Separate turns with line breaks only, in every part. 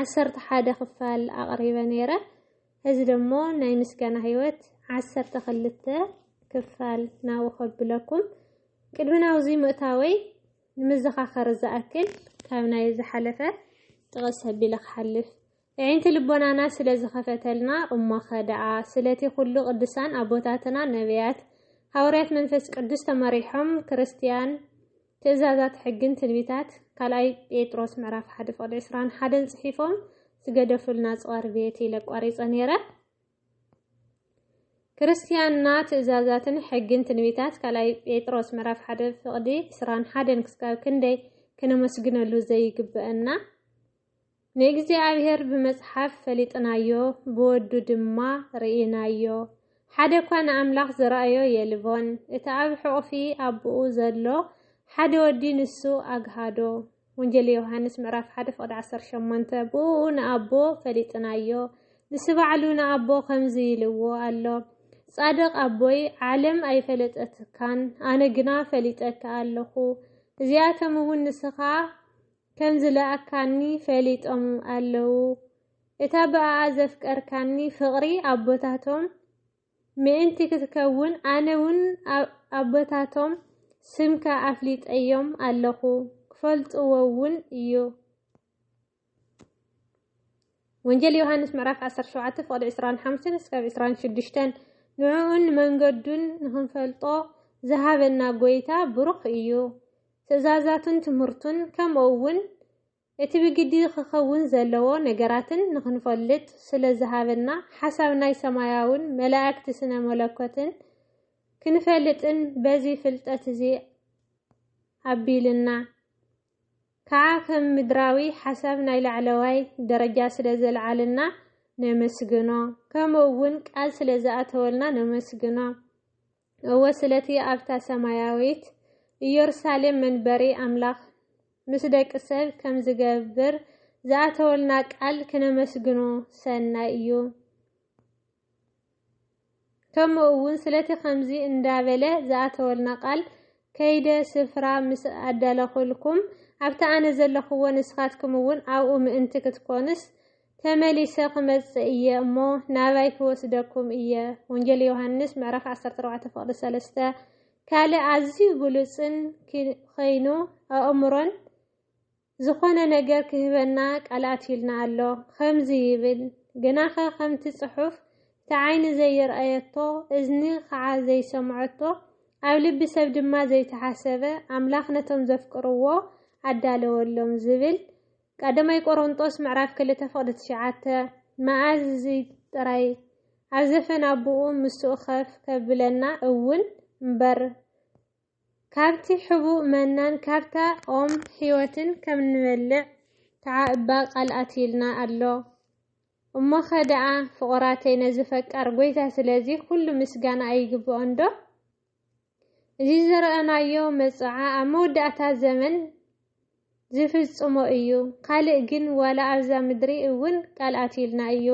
ዓሰርተ ሓደ ክፋል ኣቕሪበ ነይረ። እዚ ደሞ ናይ ምስጋና ህይወት ዓሰርተ ክልተ ክፋል ናብኡ ከብለኩም ቅድሚ ናብዚ ምእታወይ ንምዘኻኸር ዝኣክል ካብ ናይ ዝሓለፈ ጥቕስ ኣቢለ ክሓልፍ ኣዒንቲ ልቦናና ስለ ዝኸፈተልና እሞኸ ደኣ ስለቲ ኩሉ ቅዱሳን ኣቦታትና ነቢያት ሃዋርያት መንፈስ ቅዱስ ተመሪሖም ክርስትያን ትእዛዛት ሕግን ትንቢታት ካልኣይ ጴጥሮስ ምዕራፍ ሓደ ፍቕዲ ዕስራን ሓደን ጽሒፎም ዝገደፉልና ጽዋር ቤት ኢለ ቋሪጸ ነይረ። ክርስትያንና ትእዛዛትን ሕግን ትንቢታት ካልኣይ ጴጥሮስ ምዕራፍ ሓደ ፍቕዲ ዕስራን ሓደን ክስካብ ክንደይ ክነመስግነሉ ዘይግበአና ንእግዚኣብሔር ብመጽሓፍ ፈሊጥናዮ ብወዱ ድማ ርኢናዮ። ሓደ እኳ ንኣምላኽ ዝረኣዮ የልቦን። እቲ ኣብ ሕቝፊ ኣቦኡ ዘሎ ሓደ ወዲ ንሱ ኣግሃዶ። ወንጌል ዮሃንስ ምዕራፍ ሓደ ፍቕዲ ዓሰርተ ሸሞንተ ብእኡ ንኣቦ ፈሊጥናዮ። ንሱ ባዕሉ ንኣቦ ከምዚ ኢልዎ ኣሎ፣ ጻድቕ ኣቦይ ዓለም ኣይፈለጠትካን፣ ኣነ ግና ፈሊጠካ ኣለኹ፣ እዚኣቶም እውን ንስኻ ከም ዝለኣካኒ ፈሊጦም ኣለዉ እታ ብኣኣ ዘፍቀርካኒ ፍቕሪ ኣቦታቶም ምእንቲ ክትከውን ኣነ ውን ኣቦታቶም ስምካ ኣፍሊጠዮም ኣለኹ ክፈልጥዎ ውን እዩ። ወንጌል ዮሃንስ ምዕራፍ ዓሰርተ ሸውዓተ ፍቕዲ ዕስራን ሓምስን እስካብ ዕስራን ሽዱሽተን ንዕኡን መንገዱን ንኽንፈልጦ ዝሃበና ጎይታ ብሩኽ እዩ። ትእዛዛቱን ትምህርቱን ከምኡ እውን እቲ ብግዲ ኽኸውን ዘለዎ ነገራትን ንኽንፈልጥ ስለ ዝሃበና ሓሳብ ናይ ሰማያውን መላእክቲ ስነ መለኮትን ክንፈልጥን በዚ ፍልጠት እዚ ኣቢልና ከኣ ከም ምድራዊ ሓሳብ ናይ ላዕለዋይ ደረጃ ስለ ዘልዓልና ነመስግኖ ከምኡ ውን ቃል ስለ ዝኣተወልና ነመስግኖ እወ ስለቲ ኣብታ ሰማያዊት ኢየሩሳሌም መንበሪ ኣምላኽ ምስ ደቂ ሰብ ከም ዝገብር ዝኣተወልና ቃል ክነመስግኖ ሰናይ እዩ። ከሙ እዉን ስለቲ ከምዚ እንዳበለ ዝኣተወልና ቃል ከይደ ስፍራ ምስ ኣዳለኹልኩም ኣብቲ ኣነ ዘለኽዎ ንስኻትኩም እዉን ኣብኡ ምእንቲ ክትኮኑስ ተመሊሰ ክመጽእ እየ እሞ ናባይ ክወስደኩም እየ ወንጌል ዮሃንስ ምዕራፍ ዓሰርተ ኣርባዕተ ፍቕዲ ሰለስተ ካልእ ኣዝዩ ግሉጽን ከይኑ ኣእምሮን ዝኾነ ነገር ክህበና ቀልኣትዩልና ኣሎ። ኸምዚ ይብል፣ ግናኸ ኸምቲ ጽሑፍ፣ እቲ ዓይኒ ዘይርኣየቶ፣ እዝኒ ኸዓ ዘይሰምዐቶ፣ ኣብ ልቢ ሰብ ድማ ዘይተሓሰበ፣ ኣምላኽ ነቶም ዘፍቅርዎ ኣዳለወሎም ዝብል፣ ቀዳማይ ቆሮንጦስ ምዕራፍ ክልተ ፍቕዲ ትሽዓተ፣ መኣዝ እዚ ጥራይ ኣብ ዘፈን ኣቦኡ ምስኡ ኸፍ ከብለና እውን እምበር፣ ካብቲ ሕቡእ መናን ካብታ ኦም ሕይወትን ከም እንበልዕ ከዓ እባ ቃል ኣትዩልና ኣሎ። እሞኸ ደኣ ፍቑራተይ ነዚ ፈቃር ጐይታ ስለዚ ዅሉ ምስጋና ኣይግብኦንዶ? እዚ ዝረኣናዮ መጽዓ ኣብ መወዳእታ ዘመን ዚፍጽሞ እዩ፣ ካልእ ግን ዋላ ኣብዛ ምድሪ እውን ቃል ኣትዩልና እዩ።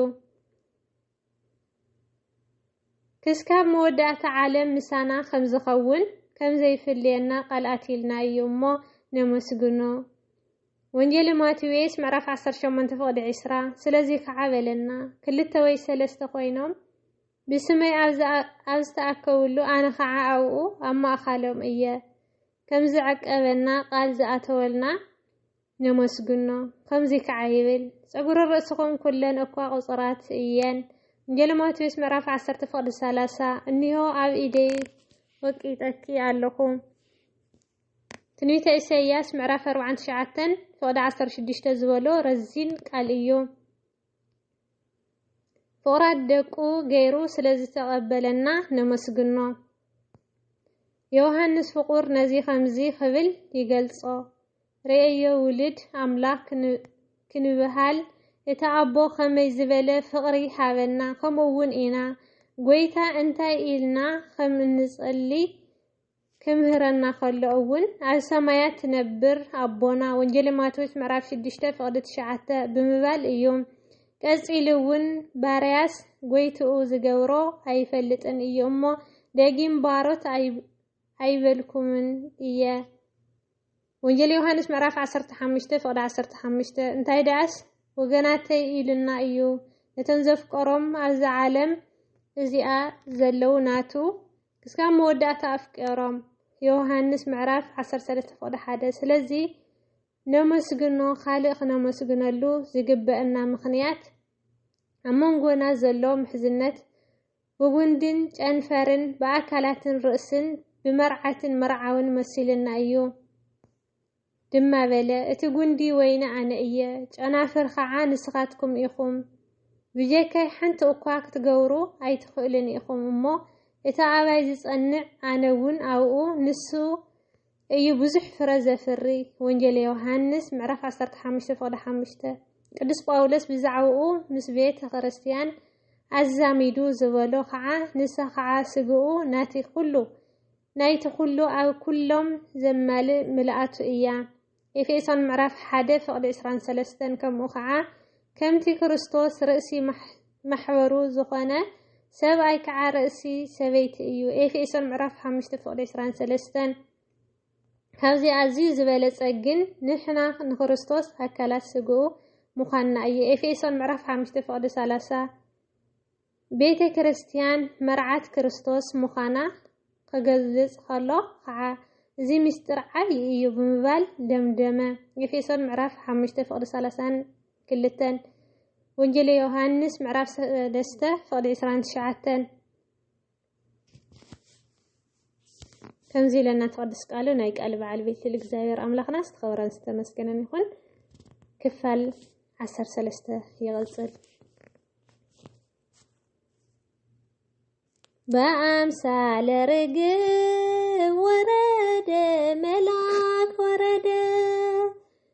ክስካብ መወዳእታ ዓለም ምሳና ከም ዝኸውን ከም ዘይፍልየና ቃል ኣትይልና እዩ እሞ ነመስግኖ። ወንጌል ማቴዎስ ምዕራፍ 18 ፍቕዲ 20 ስለዚ ከዓ በለና ክልተ ወይ ሰለስተ ኮይኖም ብስመይ ኣብ ዝተኣከብሉ ኣነ ከዓ ኣብኡ ኣብ ማእኻሎም እየ ከም ዝዕቀበና ቃል ዝኣተወልና ነመስግኖ ከምዙይ ከዓ ይብል ፀጉረ ርእስኹም ኩለን እኳ ቁፁራት እየን ወንጌለ ማቴዎስ ምዕራፍ ዓሰርተ ፍቕዲ ሰላሳ እኒሆ ኣብ ኢደይ ወቂጠኪ ኣለኹ ትንቢተ ኢሳይያስ ምዕራፍ ኣርብዓን ትሽዓተን ፍቕዲ ዓሰርተ ሽዱሽተ ዝበሎ ረዚን ቃል እዩ ፍቕራት ደቁ ገይሩ ስለ ዝተቐበለና ነመስግኖ ዮሃንስ ፍቑር ነዚ ከምዚ ክብል ይገልጾ ርእዮ ውሉድ ኣምላክ ክንብሃል እቲ ኣቦ ከመይ ዝበለ ፍቅሪ ሃበና ከምኡ ውን ኢና ጎይታ እንታይ ኢልና ከም እንጸሊ ክምህረና ከሎ እውን ኣብ ሰማያት ትነብር ኣቦና ወንጌል ማቴዎስ ምዕራፍ ሽዱሽተ ፍቅዲ ትሽዓተ ብምባል እዩ ቀጺሉ እውን ባርያስ ጎይትኡ ዝገብሮ ኣይፈልጥን እዩ እሞ ደጊም ባሮት ኣይበልኩምን እየ ወንጌል ዮሃንስ ምዕራፍ ዓሰርተ ሓሙሽተ ፍቕዲ ዓሰርተ ሓሙሽተ እንታይ ደኣስ ወገናተይ ኢሉና እዩ ነቶም ዘፍቀሮም ኣብዛ ዓለም እዚኣ ዘለዉ ናቱ ክስካብ መወዳእታ ኣፍቀሮም ዮሃንስ ምዕራፍ ዓሰርተ ሰለስተ ፍቕዲ ሓደ ስለዚ ነመስግኖ ካልእ ክነመስግነሉ ዝግበአና ምኽንያት ኣብ መንጎና ዘሎ ምሕዝነት ብጉንድን ጨንፈርን ብኣካላትን ርእስን ብመርዓትን መርዓውን መሲሉና እዩ። ድማ በለ፣ እቲ ጉንዲ ወይኒ ኣነ እየ፣ ጨናፍር ኸዓ ንስኻትኩም ኢኹም። ብጀካይ ሓንቲ እኳ ክትገብሩ ኣይትኽእሉን ኢኹም እሞ፣ እቲ ኣባይ ዝጸንዕ ኣነ እውን ኣብኡ፣ ንሱ እዩ ብዙሕ ፍረ ዘፍሪ። ወንጌል ዮሃንስ ምዕራፍ ዓሰርተ ሓሙሽተ ፍቕዲ ሓሙሽተ ቅዱስ ጳውሎስ ብዛዕባኡ ምስ ቤተ ክርስቲያን ኣዛሚዱ ዝበሎ ኸዓ ንሳ ኸዓ ስግኡ ናቲ ኩሉ ናይቲ ኩሉ ኣብ ኩሎም ዘማልእ ምልኣቱ እያ። ኤፌሶን ምዕራፍ ሓደ ፍቕዲ ዕስራን ሰለስተን ከምኡ ኸዓ ከምቲ ክርስቶስ ርእሲ ማሕበሩ ዝኾነ ሰብኣይ ከዓ ርእሲ ሰበይቲ እዩ። ኤፌሶን ምዕራፍ ሓሙሽተ ፍቕዲ ዕስራን ሰለስተን ካብዚ ኣዝዩ ዝበለጸ ግን ንሕና ንክርስቶስ ኣካላት ስግኡ ምዃንና እዩ። ኤፌሶን ምዕራፍ ሓሙሽተ ፍቕዲ ሰላሳ ቤተ ክርስትያን መርዓት ክርስቶስ ምዃና ኺገልጽ ኸሎ ኸኣ፣ እዚ ምስጢር ዓብዪ እዩ ብምባል ደምደመ። ኤፌሶን ምዕራፍ ሓሙሽተ ፍቕዲ ሰላሳን ክልተን፣ ወንጌል ዮሃንስ ምዕራፍ ሰለስተ ፍቕዲ ዕስራን ትሽዓተን፣ ከምዚ ኢለና ትቐድስ ቃሉ ናይ ቃል በዓል ቤት ልል እግዚኣብሔር ኣምላኽና ዝተኸበረን ዝተመስገነን ይኹን። ክፋል ዓሰርተ ሰለስተ ይቕጽል። በአምሳለ ርግብ ወረደ መላ